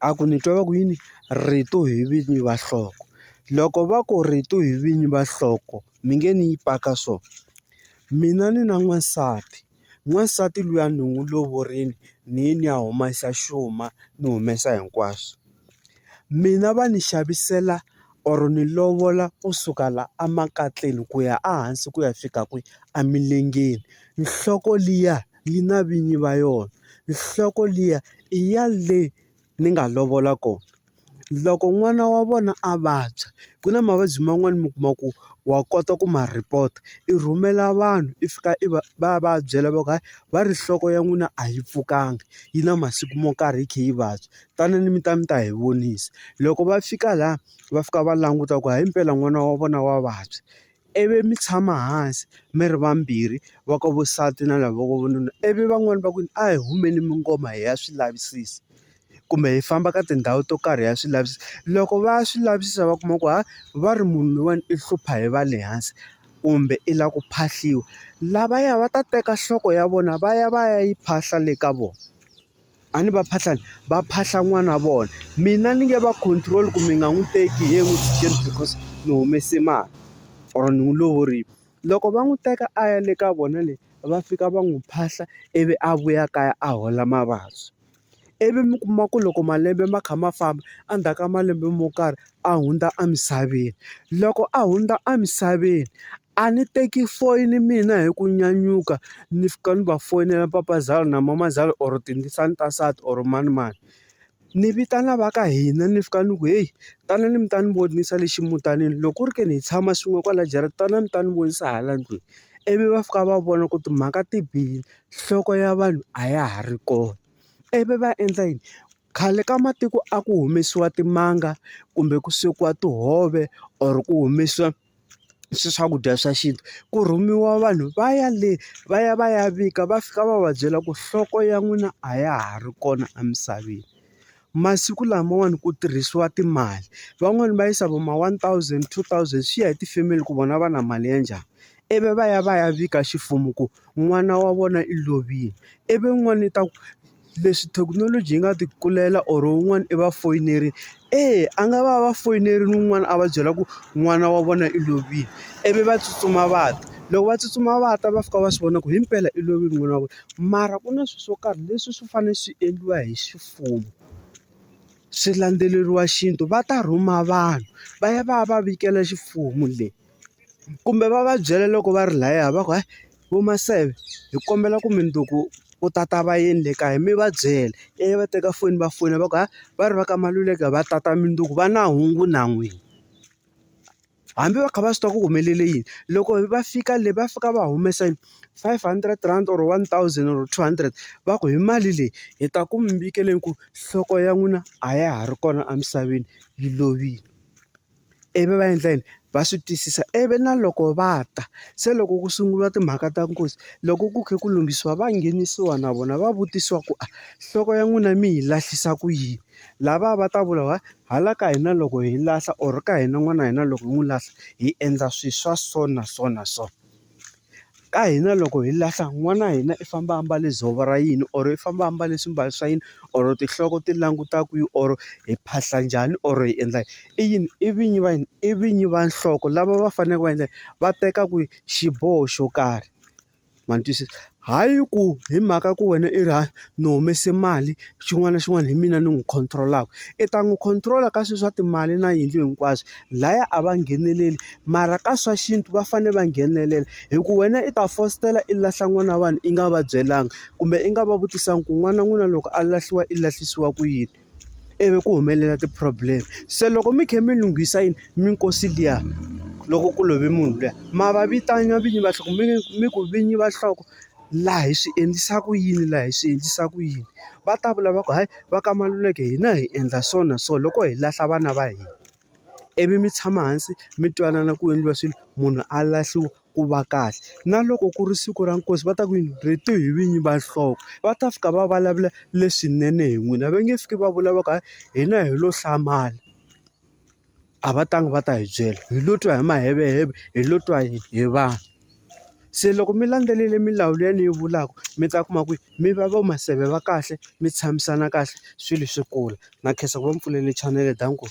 A ku ni twa va ku yini rito hi vinyi va nhloko loko va ku rito hi vinyi va nhloko mi nge ni yi paka so mina ni na n'wansati n'wansati luya ni n'wi lovorile ni ye ni ya humesa xuma ni humesa hinkwaswo mina va ni xavisela or ni lovola kusuka la a makatleni ku ya a hansi ku ya fika kwihi emilengeni nhloko liya. yi na vinyi va yona nhloko liya i ya le ni nga lovola kona loko n'wana wa vona a vabya ku na mavabyi man'wani mi kuma ku wa kota ku ma report i rhumela vanhu i fika i va va ya va ya byela va ku hayi va ri nhloko ya n'wina a yi pfukanga yi na masiku mo karhi yi kha yi vabya tanani mi ta mi ta hi vonisa loko va fika laha va fika va languta ku hayi mpela n'wana wa vona wa vabya. I vi mi tshama hansi mi ri vambirhi va ka vo nsati na lava ka vununa i vi van'wani va ku a hi humeni mi ngoma hi ya swi lavisisa kumbe hi famba ka tindhawu to karhi ya swi lavisisa loko va ya swi lavisisa va kuma ku ha va ri munhu loyiwani i hlupha hi va le hansi kumbe i lava ku phahliwa lavaya va ta teka nhloko ya vona va ya va ya yi phahla le ka vona. A ni va phahla ni va phahla n'wana wa vona mina ni nge va control ku mi nga n'wi teki hi n'wi jikeli because ni humese mali or ni n'wi lovorile loko va n'wi teka a ya le ka vona le va fika va n'wi phahla ivi a vuya kaya a hola mavabyi ivi mi kuma ku loko malembe ma kha ma famba endzhaku ka malembe mo karhi a hundza emisaveni loko a hundza emisaveni. A ni teki foyini mina hi ku nyanyuka ni fika ni va foyinela papazalo na mamazala or tindzisana ta nsati or manimani ni vitana va ka hina ni fika ni ku heyi tanani mi ta ni vonisa le ximutanini loko ku ri ke ni hi tshama swin'we kwala jarata tanani mi ta ni vonisa hala ndlwini ivi va fika va vona ku timhaka ti bihile nhloko ya vanhu a ya ha ri kona ivi va endla yini khale ka matiko a ku humesiwa timanga kumbe ku swekiwa tihove or ku humesiwa. swi swakudya swa xintu ku rhumiwa vanhu va ya le va ya va ya vika va fika va va byela ku nhloko ya n'wina a ya ha ri kona emisaveni masiku lamawani ku tirhisiwa timali van'wani va yisa vo ma one thousand two thousand swi ya hi tifemeli ku vona va na mali ya njhani ivi va ya va ya vika ximfumo ku n'wana wa vona i lovile ivi n'wana i ta ku. Leswi thekinoloji yi nga ti kulela or un'wana i va foyinerile, eya a nga va va foyinerile un'wana a va byela ku n'wana wa vona i lovile, ivi va tsutsuma va ta. Loko va tsutsuma va ta va fika va swi vona ku himpela i lovile n'wana wa vona. Mara ku na swilo swo karhi leswi swi fanele swi endliwa hi ximfumo, swi landzeleriwa xintu. Va ta rhuma vanhu va ya va ya va vikela ximfumo le, kumbe va va byela loko va ri lahaya va ku hayi. vo maseve hi kombela ku mundzuku u ta ta va yini le kaya mi va byela ivi va teka foni va fona va ku ha va ri va ka Maluleke va ta ta mundzuku va na hungu na n'wina hambi va kha va swi tiva ku ku humelele yini loko va fika le va fika va humesa yini five hundred rand or one thousand or two hundred va ku hi mali leyi hi ta ku mi nyikele ku nhloko ya n'wina a ya ha ri kona emisaveni yi lovile. ivi va endla yini va swi twisisa ivi na loko va ta se loko ku sunguriwa timhaka ta nkosi loko ku kha ku lunghisiwa va nghenisiwa na vona va vutisiwa ku a nhloko ya n'wina mi yi lahlisa ku yini lava va ta vula va hala ka hina loko hi lahla or ka hina n'wana hina loko hi n'wi lahla hi endla swilo swa so na so na so. Ka hina loko hi lahla n'wana wa hina i famba a mbale dzovo ra yini or i famba a mbale swimbalo swa yini or tinhloko ti languta kwihi or hi phahla njhani or hi endla i yini i vinyi va yini i vinyi va nhloko lava va faneleke va yini va teka ku xiboho xo karhi ma ni twisisa. Hayi ku hi mhaka ku wena i ri ni humese mali xin'wana na xin'wana hi mina ni n'wi control-aka. I ta n'wi control-a ka swilo swa timali na yindlu hinkwaswo, lahaya a va ngheneleli mara ka swa xintu va fanele va nghenelela. Hikuva wena i ta fositela i lahla n'wana wa vanhu i nga va byelanga, kumbe i nga va vutisanga ku n'wana wa n'wina loko a lahliwa i lahlisiwa ku yini. ivi ku humelela ti-problem se loko mi kha mi lunghisa yini minkosi liya loko ku love munhu luya ma va vitana vinyi va nhloko mi mi ku vinyi va nhloko laha hi swi endlisa ku yini laha hi swi endlisa ku yini va ta vula va ku hayi va ka Maluleke hina hi endla so na so loko hi lahla vana va hina. ivi mi tshama hansi mi twanana ku endliwa swilo munhu a lahliwa ku va kahle na loko ku ri siku ra nkosi va ta ku yini rito hi vinyi va nhloko va ta fika va vulavula leswinene hi n'wina va nge fiki va vulavula ku hina hi lo hlamala a va tangi va ta hi byela hi lo twa hi maheveheve hi lo twa hi vanhu. Se loko mi landzelele milawu leyi ni yi vulaka mi ta kuma ku mi va va maseve va kahle mi tshamisana kahle swilo swi kula na khensa ku va mi pfulele chanele dankie.